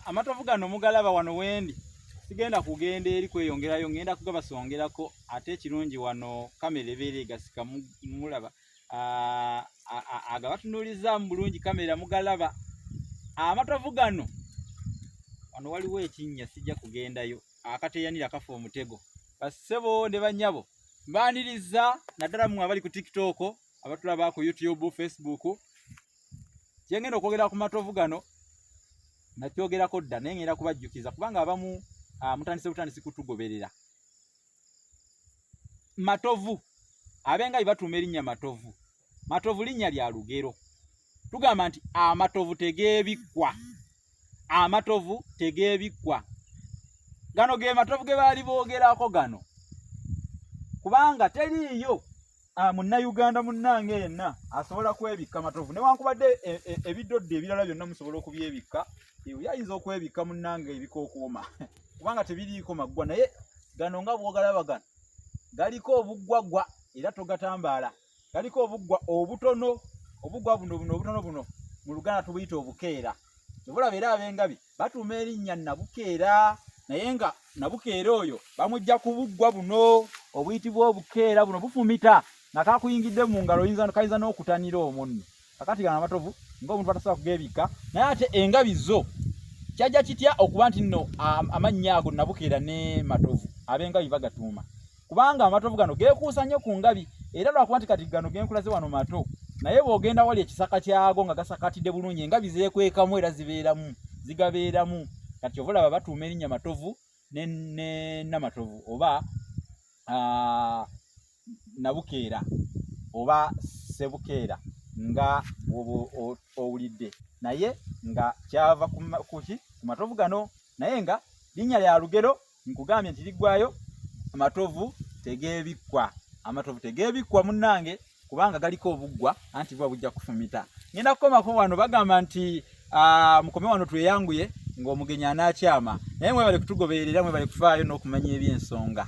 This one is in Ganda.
amatovu gano mugalaba wano wendi sigenda kugenda eri kweyongerayo ngenda kugabasongerako ate ekirungi wano kamera ebeera egasika mulaba agabatunuulizaamu bulungi kamera mugalaba amatovu gano wano waliwo ekinnya sijja kugendayo akateyanira kafa omutego bassebo ne bannyabo mbaniriza naddala mwe abali ku tiktok abatulaba ku youtube facebook kyengenda okwogera ku matovu gano nakyogerako dda naye ngenda kubajjukiza kubanga abamu ah, mutandise butandisi kutugoberera matovu abenga bebatuuma erinnya matovu matovu linnya lya lugero tugamba nti amatovu tegeebikkwa amatovu tegeebikkwa gano ge matovu ge baali boogerako gano kubanga teriiyo ah, munnayuganda munnange yenna asobola kwebikka matovu newankubadde e, e, ebiddodde ebirala byonna musobola okubyebikka eyo ayinza okwebikka munnange ebikookuuma kubanga tebiriiko maggwa naye gano nga bwogalaba gano galiko obuggwaggwa era togatambaala galiko obuggwa obutono obuggwa buno buno obutono buno mu luganda tubuyita obukeera kyebulaba era abengabi batuuma erinnya nabukeera naye nga nabukeera oyo bamujja kubuggwa buno obuyitibwa obukeera buno bufumita nga kakuyingidde mu ngalo kayinza n'okutanira omunno kakati gano amatovu ng'omuntu batasobola kugeebikka naye ate engabi zo kyajja kitya okuba nti nno amannya ago nabukeera ne matovu ab'engabi bagatuuma kubanga amatovu gano geekuusa nnyo ku ngabi era lwakuba nti kati gano genkulaze wano mato naye bw'ogenda wali ekisaka kyago nga gasakatidde bulungi engabi zeekwekamu era zibeeramu zigabeeramu kati ova olaba batuuma erinnya matovu ne namatovu oba nabukeera oba sebukeera nga owulidde naye nga kyava kuki ku matovu gano naye nga linnya lya lugero nkugambye nti liggwayo amatovu tegeebikkwa amatovu tegeebikkwa munnange kubanga galiko obuggwa anti buba bujja kufumita ngenda kukomako wano bagamba nti ah, mukome wano tweyanguye ng'omugenyi anaakyama naye mwebale kutugoberera mwebale kufaayo n'okumanya eby'ensonga